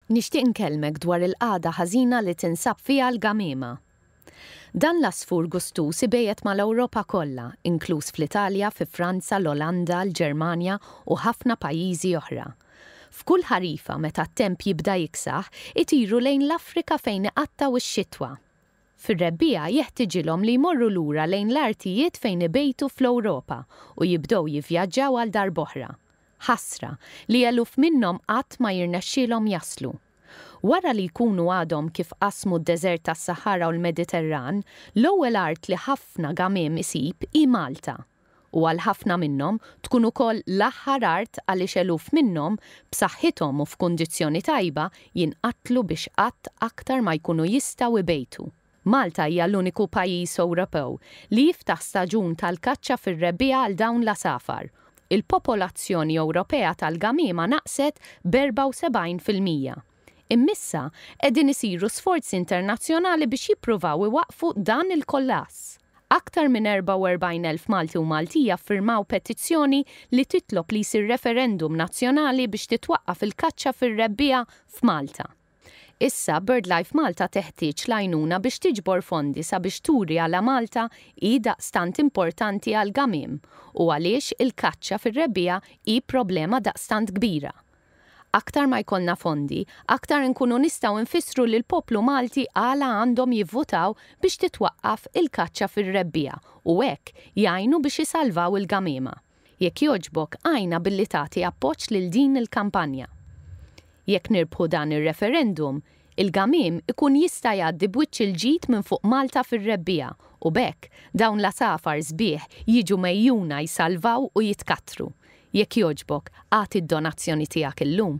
Nixtieq nkellmek dwar il-qagħda ħażina li tinsab fiha l-gamiema. Dan l-għasfur gustuż ibejjet mal-Ewropa kollha, inkluż fl-Italja, fi Franza, l-Olanda, l-Ġermanja u ħafna pajjiżi oħra. F'kull ħarifa meta t-temp jibda jiksaħ, itiru lejn l-Afrika fejn iqattgħu x-xitwa. Fir-rebbiegħa jeħtiġilhom li jmorru lura lejn l-artijiet fejn ibejtu fl-Ewropa u jibdew jivvjaġġaw għal darb'oħra. Ħasra, li eluf minnhom qatt ma jirnexxielhom jaslu. Wara li jkunu għadhom kif qasmu d-deżert tas-Saħara u l-Mediterran, l-ewwel art li ħafna gamiem isib hi Malta. u għal ħafna minnhom tkun ukoll l-aħħar art għaliex eluf minnhom, b'saħħithom u f'kundizzjoni tajba, jinqatlu biex qatt aktar ma jkunu jistgħu jbejtu. Malta hija l-uniku pajjiż Ewropew li jiftaħ staġun tal-kaċċa fir-rebbiegħa għal dawn l-għasafar. Il-popolazzjoni Ewropea tal-gamiema naqset b'74 fil-mija. Imm'issa qegħdin isiru sforzi internazzjonali biex jippruvaw iwaqqfu dan il-kollass. Aktar minn 44,000 Malti u Maltija ffirmaw petizzjoni li titlob li jsir referendum nazzjonali biex titwaqqaf il-kaċċa fir-rebbiegħa f'Malta. Issa, BirdLife Malta teħtieġ l-għajnuna biex tiġbor fondi sabiex turi għala Malta hi daqstant importanti għall-gamiem u għaliex il-kaċċa fir-rebbiegħa hi problema daqstant kbira, Aktar ma jkollna fondi, aktar inkunu nistgħu nfissru lill-poplu Malti għala għandhom jivvutaw biex titwaqqaf il-kaċċa fir-rebbiegħa u hekk jgħinu biex isalvaw il-gamiema. Jekk jogħġbok għinna billi tagħti appoġġ lil din il-kampanja. Jekk nirbħu dan ir-referendum, Il-gamiem ikun jista' jgħaddi b'wiċċ il-ġid minn fuq Malta fir-rebbiegħa u b'hekk dawn l-għasafar sbieħ jiġu megħjuna jsalvaw u jitkattru. Jekk jogħġbok, agħti d-donazzjoni tiegħek illum.